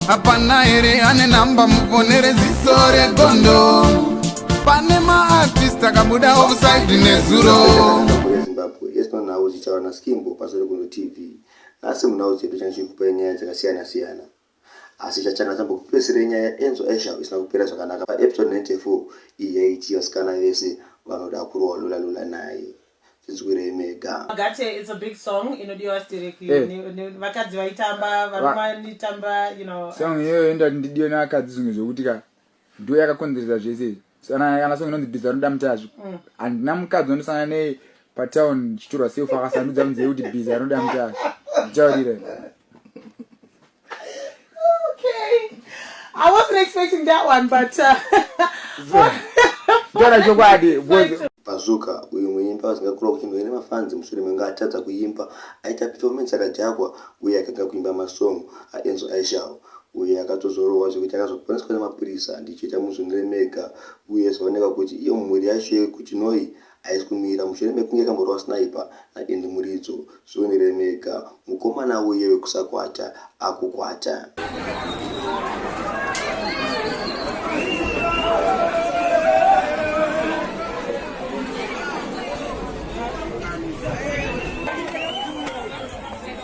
hapana here ane namba mufonere ziso regondo pane maartist akabuda offside nezuro zimbabwe yes panhau dzichava naskimbo pasori kuno tv nhasi munhau dzedu chana chiri kupai nyaya dzakasiyana siyana asi chachana chambokupesere nyaya yaenzo aisha isina kupera zvakanaka paepisode 94 iyi yaiti vasikana vese vanoda kurowa lula lula naye tinzwirei mega gate it's a big song inodiwa stereki eh. vakadzi vaitamba varumanitamba you know song iyoyo enda ndidiwe nevakadzi zvimwe zvekuti ka ndo yakakonzeresa zvese kana song inonzi biza rinoda mutazvo mm. handina mukadzi wandosangana nei patown chitorwa sefu akasandudza munzeve kuti biza rinoda mutazvo ndichaurire I wasn't expecting that one, but uh, Dora chokwadi because Bazooka uyu muimbi asingakurwa kuchindwa ine mafanzi mushure menge atadza kuimba aita performance yakadhakwa uye akanga kuimba masong aenzo aishawo uye akatozorohwa zvekuti akazoponeswa nemapurisa ndichiita muzvinire mega uye zvaoneka kuti iyo mhuri yacho yekuchinoi haisi kumira mushure mekunge kamborova sniper naEndy Muridzo. Zvionerei mega, mukomana uye wekusakwata akukwata.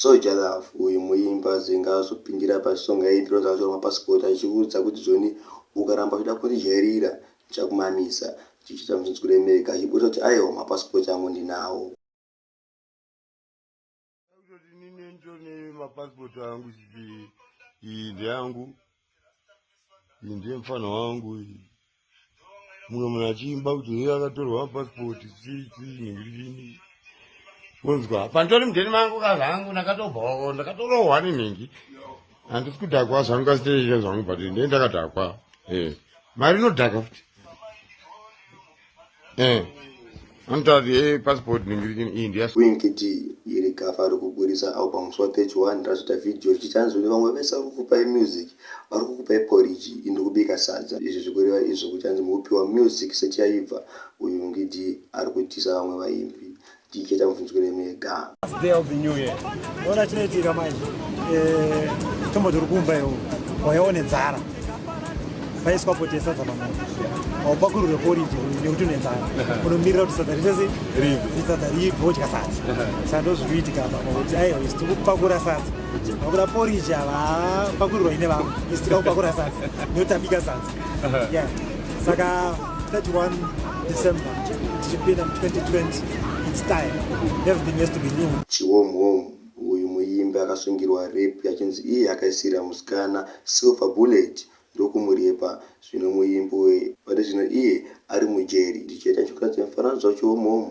Soja love uyu muimbi azinga azopindira pa song yaiimbirwa Zvacho ma passport achiudza kuti Joni ukaramba uchida kundijairira ndichakumamisa ndichiita misodzi kuremeka achiburitsa kuti aiwa ma passport angu ndinawo. Kutoti nini nditone ma passport angu chiti iyi ndeyangu iyi ndiye mfana wangu iyi mumwe munhu achiimba kuti iye akatorwa passport chii chii nhingirini kunzwa panditori mudheni mangu ka zvangu ndakatobhoo ndakatorohwa nenhingi handisi kudhakwa zvangu kasiteizve zvangu but ndiye ndakadhakwa e mari inodhaka futi Eh. Anotadzi e eh, passport ningirichini iyi ndiya Winkd iri gafa ari kuburitsa album swa 31 razoita video richichanzi kune vamwe vese vari kukupai music vari kukupai poriji indi kubika sadza izvi zvikureva izvo kuchanzi mukupiwa music sechaibva uyu ngidi ari kutisa vamwe vaimbi ticheta mubvunzwire mega day of the new year ona chinoitika manje eh, tombo tiri kumba iwo wayaone dzara paiswa poti yesadza pamao haupakurure poriji nekuti une dzara unomirira kuti sadza ritese risadza ribve wodya sadza saka ndozviri kuitika apa kuti aiwa isi tiri kupakura sadza vakuda poriji ava pakurirwa ine vamwe isi tikaupakura sadza nekuti tabika sadza saka 31 December tichipinda mu 2020 it's time everything has to be new chiwom wom uyu muimbi akasungirwa rape achinzi iye akaisira musikana silver bullet ndokumurepa zvino muimbi uye pari zvino iye ari mujeri ndichaita chokuratidza mifananidzo wachiwom wom